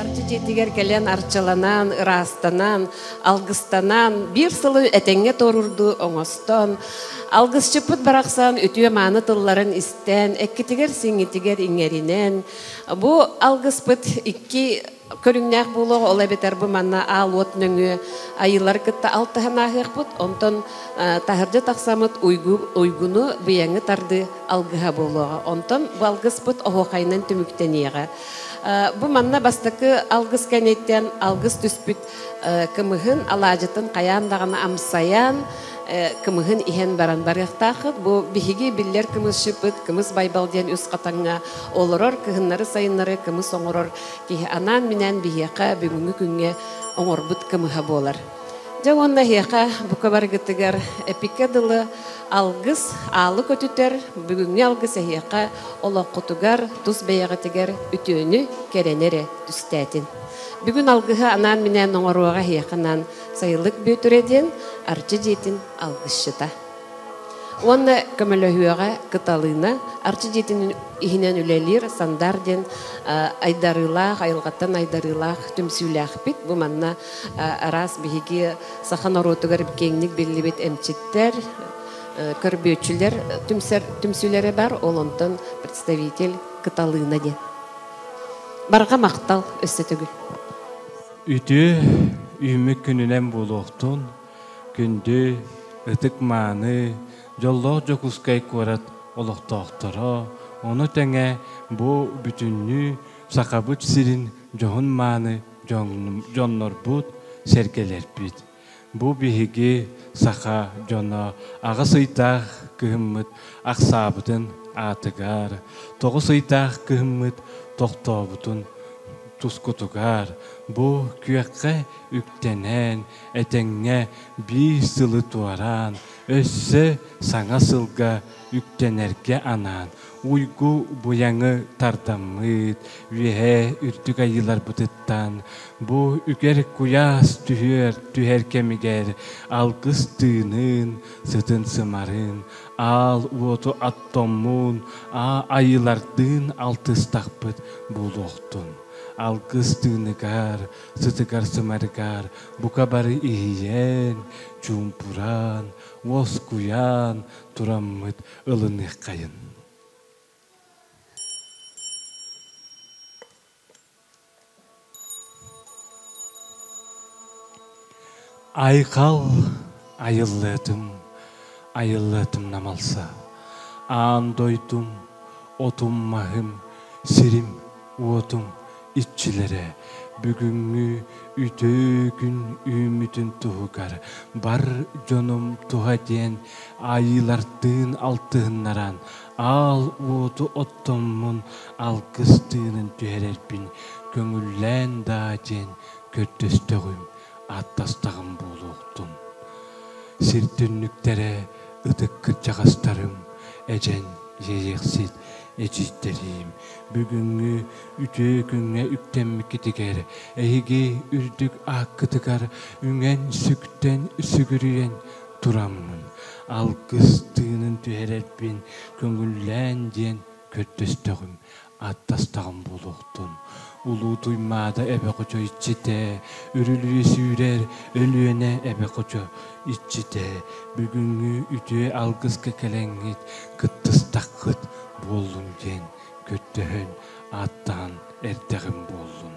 Арчы дьиэтигэр кэлэн арчыланан, ыраастанан, алгыстанан, биир сылы этэҥҥэ туорурду оҥостон, алгысчыппыт барахсан үтүө-мааны тылларын истэн, эккитигэр-сиҥитигэр иҥэринэн, бу алгыспыт икки Көрүҥнээх буолуох, ол эбэтэр бу манна аал-уот нөҥүө айыылары кытта алтыһан ааһыахпыт, онтон таһырдьа тахсаммыт уйгу, уйгуну быйаҥы тардыы алгыһа буолуоҕа. Онтон бу алгыспыт оһуохайынан түмүктэниэҕэ. Бу манна бастакы алгыс кэниттэн алгыс түспүт кымыһын алаадьытын хайаан даҕаны амсайан, кымыһын иһэн баран барыахтааххыт. Бу биһиги биллэр кымысчыппыт, кымыс байбал диэн үс хатаҥҥа олорор кыһыннары-сайыннары кымыс оҥорор киһи анаан-минээн биһиэхэ бүгүҥҥү күҥҥэ оҥорбут кымыһа буолар. Дьэ уонна эһиэхэ бука барыгытыгар эпиккэ дылы алгыс, аалы көтүтэр, бүгүҥҥү алгыс эһиэхэ олоххутугар, тус бэйэҕитигэр үтүөнү, кэрэни эрэ түстээтин. Бүгүн алгыһы анаан-минээн оҥоруоҕа эһиэхэ анаан сайылык Бүөтүрэ диэн Арчы дьиэтин алгысчыта. Уонна көмөлөһүөҕэ Кыталыына Арчы дьиэтин иһинэн үлэлиир Сандар диэн айдарыылаах, айылҕаттан айдарыылаах түмсүүлээхпит. Бу манна араас биһиги саха норуотугар киэҥник биллибит эмчиттэр, көрбүөччүлэр түмсэр түмсүүлэрэ бар. Ол онтон представитель Кыталыына диэн. Барҕа махтал өссө төгүл. Үтүө үүммүт күнүнэн буолуохтун. Күндү, ытык-мааны, дьоллоох Дьокуускай куорат олохтоохторо, ону тэҥэ бу бүтүннүү Сахабыт сирин дьоһун-мааны дьоннорбут, сэргэлэрбит. Бу биһиги, саха дьоно, аҕыс ыйдаах кыһыммыт ахсаабытын аатыгар, тоҕус ыйдаах кыһыммыт тохтообутун тускутугар, бу күөххэ үктэнэн, этэҥҥэ биир сылы туораан, өссө саҥа сылга үктэнэргэ анаан уйгу-буйаҥы тардаммыт үөһээ үрдүк айыыларбытыттан бу үгэр куйаас түһүөр түһэр кэмигэр алгыс тыынын, сытын сымарын, аал уоту аттоммун, аа айыылардыын алтыстахпыт буолуохтун. Алгыс тыыныгар сытыгар-сымарыгар бука бары иһийэн, чуумпуран, уоскуйан тураммыт ылыныаххайын. Айхал айыллыатым, айыллыатым намалса. Аан дойдум, отум-маһым, сирим, уотум иччилэрэ бүгүҥҥү үтүгүн үүммүтүн туһугар бар дьонум туһа диэн айыылартыын алтыһыннаран аал уоту оттоммун алгыс тыынын түһэрэрбин көҥүллээн даа диэн көрдөстөҕүм Аттастаҕым буолуохтун. Сир түннүктэрэ ытык кырдьаҕастарым, эдьэн дьиэйэхсит эдьиийдэрим, бүгүҥҥү үтүө күҥҥэ үктэммиккитигэр эһиги үрдүк ааккытыгар үҥэн-сүктэн сүгүрүйэн тураммын, алгыс тыынын түһэрэрбин көҥүллээн диэн көрдөстөҕүм. Аттастаҕым буолуохтун. Улуу Туймаада эбэ хочо иччитэ, үрүлүйэ сүүрэр Өлүөнэ эбэ хочо иччитэ, бүгүҥҥү үтүө алгыска кэлэҥҥит, кыттыстаххыт буоллун диэн көрдөһөн, ааттаан эрдэҕим буоллун.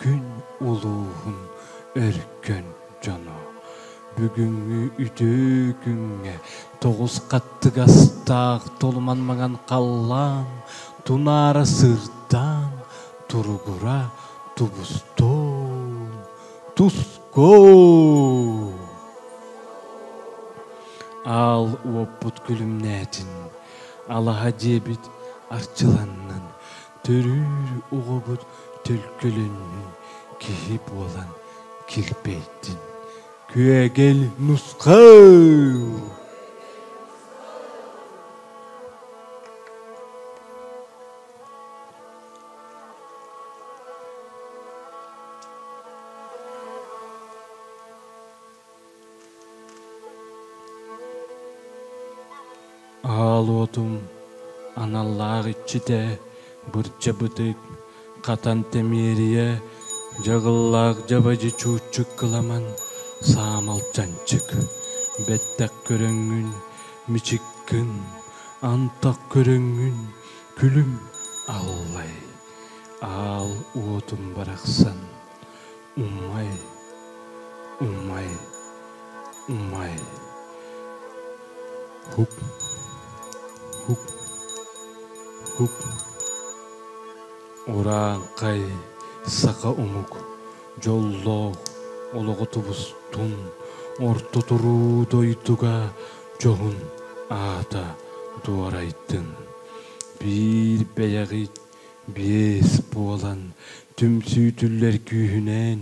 Күн улууһун өркөн дьоно бүгүҥҥү үтүө күҥҥэ тоҕус хаттыгастаах толуман маҥан халлаан тунаара сырдаан туругура тубустуо туску аал уоппут күлүмнээтин алаһа диэбит арчыланнын Төрүүр оҕобут төлкөлөннүн киһи буолан килбэйдин күөгэл нусхал Аал уотум аналлаах иччитэ бырдьабытык хатан тэмиэрийэ дьаҕыллаах дьабадьы чууччук кыламан саамал чанчык бэттэх көрөҥҥүн мичиккин антах көрөҥҥүн күлүм аллай аал уотум барахсан Умай, умай, умай. Хуп, хуп, хуп. Урааҥхай саха омук дьоллоох олоҕо тубустун орто туруу дойдуга дьоһун аата дуорайдын. Биир бэйэҕит Биэс буолан түмсүүтүллэр күүһүнээн,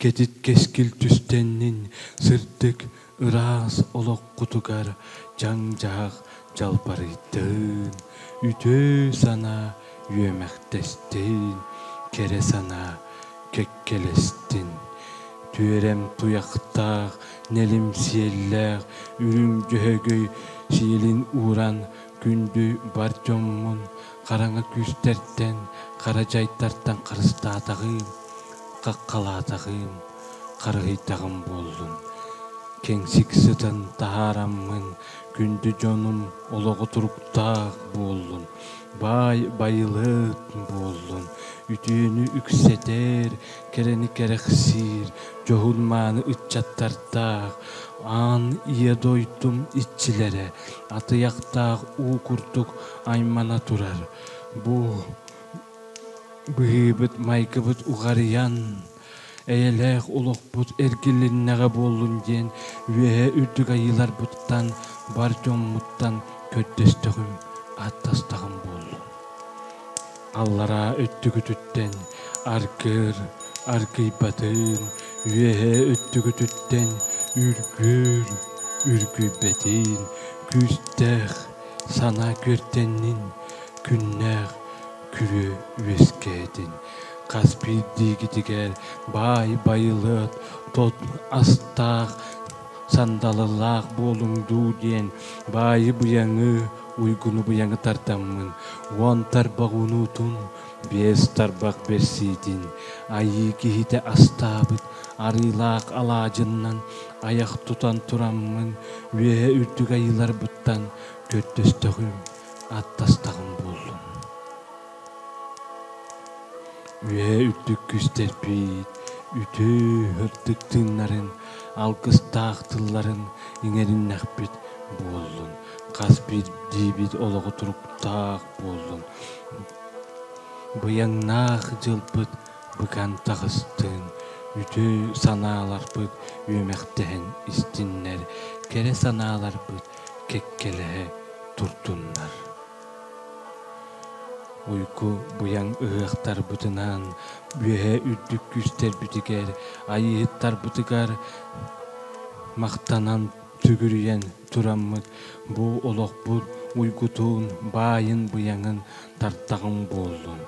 кэтит кэскил түстэннин сырдык, ыраас олоххутугар дьаҥ-дьаһах дьалбарыйдын, үтүө санаа үөмэхтэстин, кэрэ санаа кэккэлэстин. Түөрэм туйахтаах, нэлим сиэллээх, үрүҥ дьөһөгөй сиэлин ууран Күндү бар дьоҥҥун хараҥа күүстэртэн, хара дьайдартан харыстаатаҕыым, хаххалаатаҕыым, харыһыйдаҕым буоллун. Кэҥсик сытан таһаараммын, күндү дьонум олоҕо туруктаах буоллун. Баай байылыат буоллун, үтүөнү үксэтэр кэрэни кэрэхсиир дьоһун-мааны ыччаттардаах аан ийэ дойдум иччилэрэ атыйахтаах уу курдук аймана турар бу быһыыбыт майгыбыт уҕарыйан эйэлээх олохпут эргилиннэҕэ буоллун диэн үөһэ үрдүк айыыларбыттан бар дьоммуттан көрдөстөҕүм аттастаҕым буоллун аллараа өттүгүтүттэн аргыыр аргыйбатыыр үөһээ өттүгүтүттэн үргүүр үргүйбэтиир күүстээх санаа күөртэннин күннээх күрүө үөскээтин хас биирдиигитигэр баай байылыат тот астаах сандалылаах буолуҥ дуу диэн баайы быйаҥыы уйгунубуйаҥы тардаммын уон тарбах унуутун биэс тарбах бэрсиитин айыы киһитэ астаабыт арыылаах алаадьыннан айах тутан тураммын үөһэ үрдүк айыыларбыттан көрдөстөхүм аттастаҕым буоллум Үөһэ үрдүк күүс дэлбиит үтүө ырдык тыыннарын, алгыстаах тылларын иҥэриннэхпит буоллун, хас биирдиибит олоҕу туруктаах буоллун. Быйаҥнаах дьылбыт быкан таҕыстын, үтүө санааларбыт үөмэхтэһэн истиннэр, кэрэ санааларбыт кэккэлэһэ турдуннар. Уйку Быйаҥ ыһыахтарбытынан үөһэ үрдүк күүстэрбитигэр, айыыһыттарбытыгар махтанан түгүрүйэн тураммыт бу олохпут уйгутун, баайын-быйаҥын тартаҕыҥ буоллун.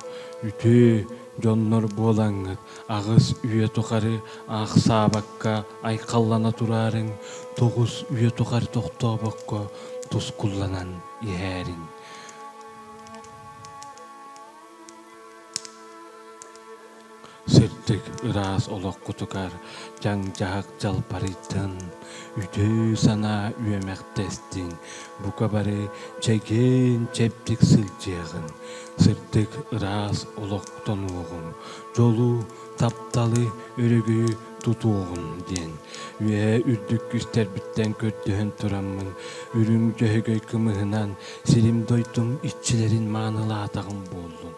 Үтүө дьоннор буолаҥҥыт аҕыс үйэ тухары аахсаабакка айхаллана тураарыҥ, тоҕус үйэ тухары тохтообокко тускулланан иһээрин сырдык ыраас олох кутугар дьаҥ-дьаһак дьалбарыйтын үтүө санаа үөмэхтэстин бука бары чэгиэн чэбдик сылдьыаҕын сырдык ыраас олохтонуоҕуҥ дьолу тапталы өрүгү тутуоҕум диэн үөһэ үрдүк үстэрбиттэн көрдөһөн тураммын үрүҥ төһөгөй кымыһынан сирим дойдум иччилэрин маанылаатаҕым буоллун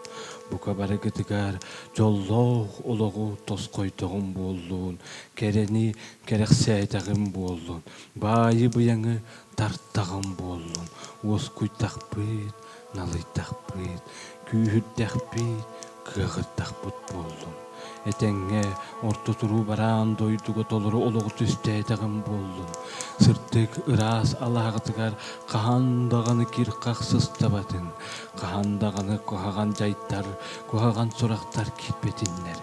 бука барыгытыгар дьоллоох олоҕу тосхойдоҕум буоллун кэрэни кэрэхсээтэҕим буоллун баайы быйаҥы Тартаҕым буоллун уоскуйдахпыт, налыйдахпыт, күүһүрдэхпит, кыаҕырдахпыт буоллун. Этэҥҥэ орто туруу бараан дойдуга толору олоҕу түстээтэҕим буоллун. Сырдык ыраас алааһытыгар хаһан даҕаны кир-хах сыстабатын, хаһан даҕаны куһаҕан дьайдар, куһаҕан сурахтар киирбэтиннэр.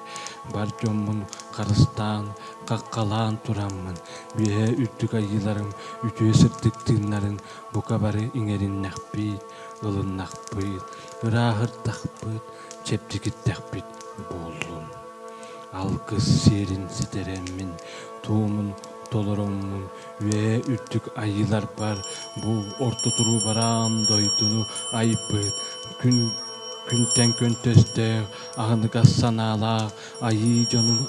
Бар дьоммун харыстаан, хаххалаан тураммын, Үөһээ үрдүк айыыларыҥ үтүө сырдык тыыннарын бука бары иҥэриннэхпит, ылыннахпыт, ырааһырдахпыт, чэбдигирдэхпит буоллун. Алгыс сиэрин ситэрэммин, туомун толоруммун үөһээ үрдүк айыыларбар бу орто туруу бараан дойдуну айбыт күн күнтэн күн төстээх аһыныгас санаалаах Айыы дьонуҥ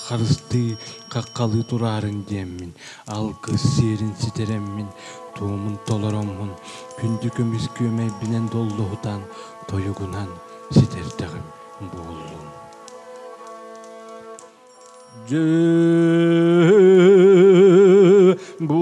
харыстыы, хаххалыы тураарын диэммин, алгыс сиэрин ситэрэммин, туомун толороммун, күндү көмүс күөмэйбинэн доллуһутан, тойугунан ситэрдэҕим буоллун. Дьэ бу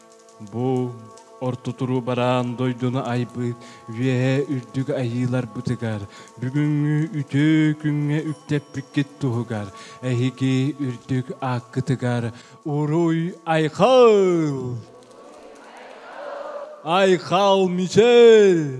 Бу орто туруубараан дойдуну айбыт Үөһээ Үрдүк Айыыларбытыгар бүгүҥҥү үтүө күҥҥэ үктэппиккит туһугар эһиги үрдүк ааккытыгар уруй айхал! Айхал Мичэл!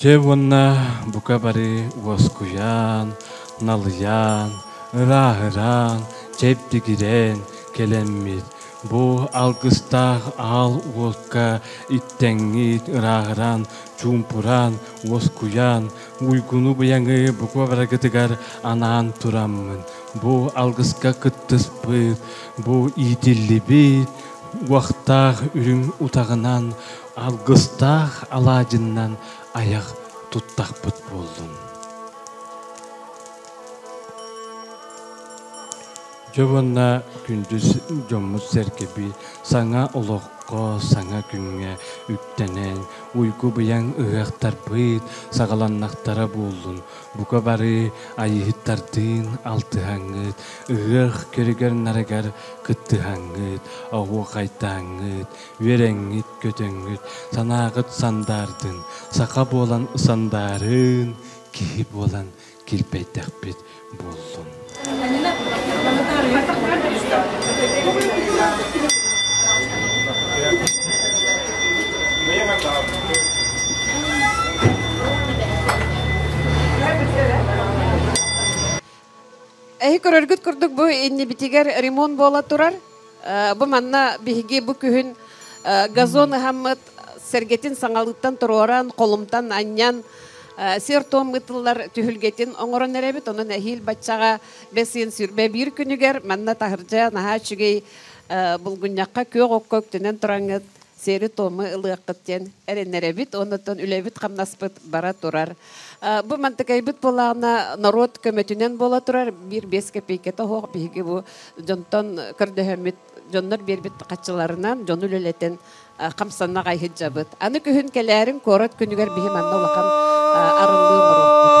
Дьэ уонна бука бары уоскуйан, налыйан, ырааһыраан, чэбдигирэн кэлэммит бу алгыстаах аал уолка иттэҥҥит ырааһыран, чуумпуран, уоскуйан, уйгуну-быйаҥы бука барыгытыгар анаан тураммын, бу алгыска кыттыспыт, бу иитиллибит уохтаах үрүҥ утаҕынан Алгыстаах алаадьыннан айах туттахпыт буоллун. Дьэ уонна күндү дьоммут-сэргэби саҥа олоххо, саҥа күҥҥэ үктэнэн, уйгу-быйаҥ ыһыахтарбыт саҕаланнахтара буоллун. Бука бары айыһыттардыын алтыһаҥҥыт, ыһыах көрүгэр-нарыгар кыттыһаҥҥыт, оһуохайдааҥҥыт, Үөрэҥҥит-көтөҥҥүт, санааҕыт сандаардын, саха буолан сандаарын, киһи буолан килбэйдэхпит буоллун. Эһи көрөргүт курдук бу иннибитигэр ремонт буола турар. Бу манна биһиги бу күһүн газон ыһаммыт сэргэтин саҥалыыттан туруоран, холумтан анньан, сир-туом ытыллар түһүлгэтин оҥорон эрэбит. Онон эһиил баччаҕа бэс ыйын сүрбэ биир күнүгэр манна таһырдьа наһаа үчүгэй булгунньахха күөх окко үктэнэн тураҥҥыт сиэри-туому ылыаххыт диэн эрэнэрэбит, оннуттан үлэбит-хамнаспыт бара турар. Бу мантыкайбыт буолаана норуот көмөтүнэн буола турар, биир-биэс копейката оһох биһиги бу дьонтон көрдөһөммүт дьоннор биэрбит хаччыларынан дьону үлэлэтэн хамсанна хайһыддьабыт. Аны күһүн кэлээрин куорат күнүгэр биһи манна улахан арыллыы морохпут.